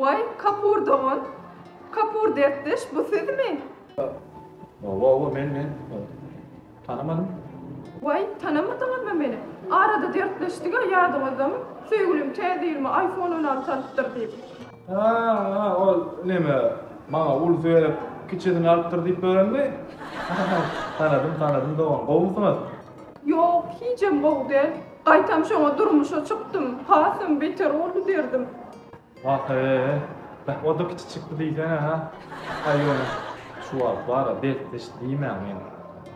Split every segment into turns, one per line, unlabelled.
Waý, Kapur dogan, Kapur dertdeş, bu sizmi? Oba, oba, men, men. Tanamadym. Waý, tanamadyňyzmy meni? Arada dertleşdik-ä, ýadyňyzdamy? Söýgülim täze ýylyma iPhone on alty alypdyr diýip. Ha-a, ol neme, maňa ulusy berip, kiçisini alypdyr diýip berenmi? Tanadym, tanadym dogan, gowumysyňyz? Ýok, hijem gowy däl. Gaýtam şoňa durmuşa çykdym. Hasam beter boldy derdim. Wah-eý, beh, o-da kiçi çykdy diýsene-hä. Haý ýöne, şu wagt bar-a, bes-diş diýmäň men.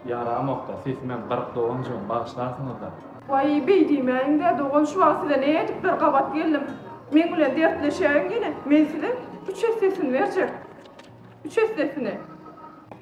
Ýaramok-da, sesimem gyryk doganjygym, bagyşlarsyňyz-da. Waý, beý diýmäliň-dä, dogan, şu wagt size nädip bir gabat geldim. Meň bilen dertleşäýiň ýene, men size üç essesini berjek. Üç essesini.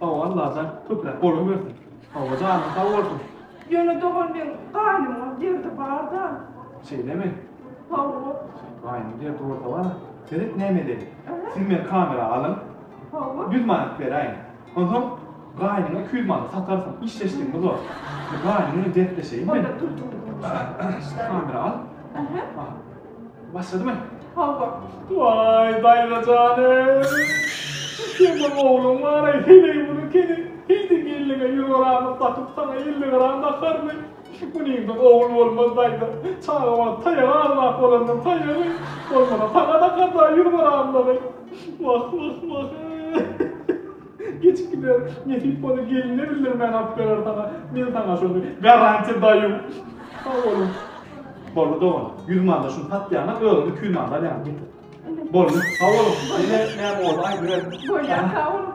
Saw Allajan köpräk bolan bersin. Hawa janyň sag bolsun. Ýöne dogan meň gaýnymyň derdi barda. Şeýlemi? Hawa. Gaýnyň derdi bolsa bar. Seret näme edeli. Siz meni kamera alyň. Hawa. Ýüz manat beräýiň. Onsoň gaýnyňa iki ýüz manat satarsyň. Işleşdigimiz bor. Gaýnyň bilen dertleşeýinmi? Onda turtuň. Kamera al. Aha. Başladymy? Hawa. Waý, daýza janym. Sen bir ogluň bar-aý, heleý muny kene. Heýde gelniňe ýüz gramyk dakyp, saňa elli gram dakarmy? Munyňdan ogul bolmaz, daýza. Çaga wagt taýagy agzap bolandan taýagy, bolmasa saňa dakar-da ýüz gramlygy. Wah, wah, wah-y. Geçip gider. Nesip bolsa geline bildirmän alyp berer saňa. Men saňa şony garantiýa daýum. Sag boluň. Boldy dogan. Ýüz manda şuny satýaňa özüňe iki ýüz manda alýaňa getir. Boldy. Sag boluň. Ýene näme boldy aýdyberin. Bolýar sag boluň.